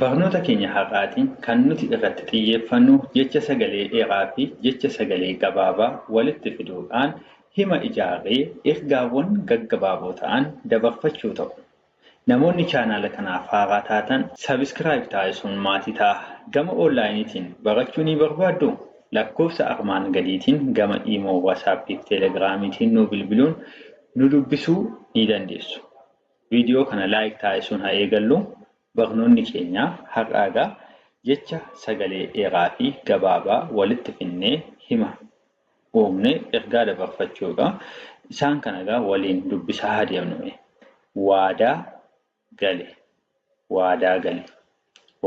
Barnoota keenya har'aatiin kan nuti irratti xiyyeeffannu jecha sagalee dheeraafi jecha sagalee gabaabaa walitti fiduudhaan hima ijaarree ergaawwan gaggabaaboo ta'an dabarfachuu ta'u. Namoonni chaanaala kanaaf haaraa taatan subscribe taasisuun maatii ta'aa. Gama onlaayiniitiin barachuu ni barbaadduu? Lakkoofsa armaan gadiitiin gama Imo, WhatsApp fi Telegramiitiin nuu bilbiluun nu dubbisuu ni dandeessu. Viidiyoo kana like taasisuun ha eegallu. Barnoonni keenya har'aa egaa jecha sagalee dheeraa fi gabaabaa walitti fidnee hima uumne ergaa dabarfachuu dha. Isaan kana egaa waliin dubbisaa haa deemnu mee. Waadaa gale waadaa gale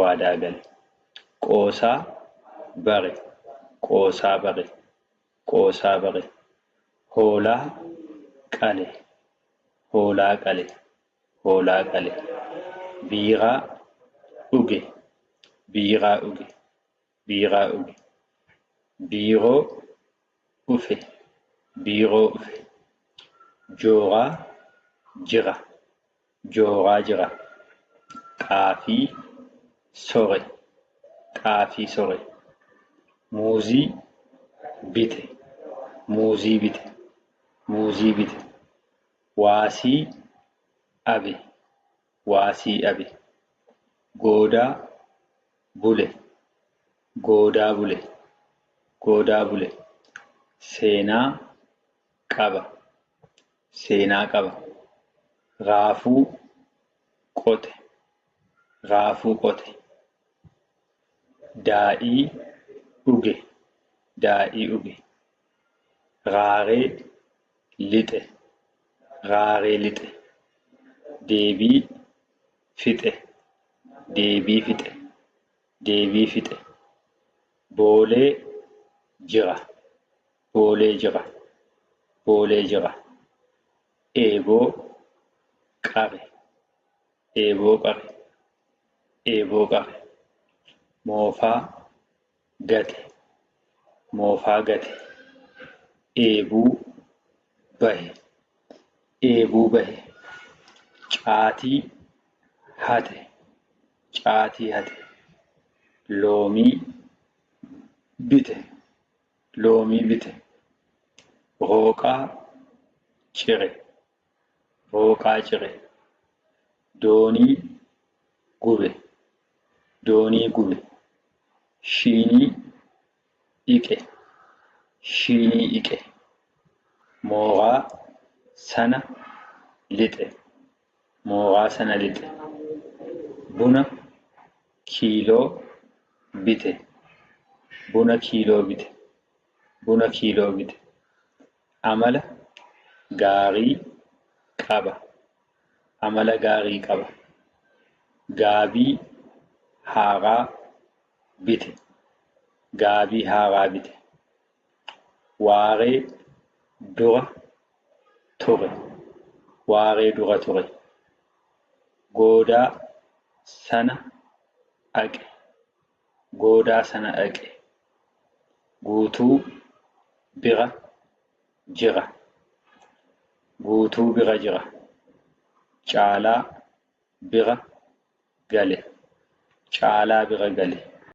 waadaa gale Qoosaa bare qoosaa bare qoosaa bare Hoolaa qale hoolaa qale hoolaa qale, biiraa dhuge, biiraa dhuge, biiraa dhuge, biiroo dhufe, biiroo dhufe, jooraa jira, jooraa jira, xaafii sore, xaafii sore, muuzii bite, muuzii bite, muuzii bite. Waasii abe waasii abe. Goodaa bule goodaa bule goodaa bule. Seenaa qaba seenaa qaba. Raafuu qote raafuu qote. Daadhii dhuge daadhii dhuge. Raaree lixe Raaree lixe Deebii fixe Deebii fixe Deebii fixe Boolee jira Boolee jira Boolee jira Eeboo qare Eeboo qare Eeboo qare Moofaa gate, moofaa gate, dheebuu bahe, dheebuu bahe, caatii hate, caatii hate, loomii bite, loomii bite, hooqaa cire. Rooqaa cire. Doonii gube. Doonii gube. Shiinii dhiqe. Shiinii dhiqe. Mooraa sana lixe. Mooraa sana lixe. Buna kiiloo bite. Buna kiiloo bite. Buna kiiloo bite. Amala gaarii qaba. Amala gaarii qaba. Gaabii haaraa bite. Gaabii haaraa bite. Waaree dura ture. Waaree dura ture. Goodaa sana dhaqe. goodaa sana dhaqe Guutuu bira jira Guutuu bira jira Caalaa bira gale Caalaa bira gale.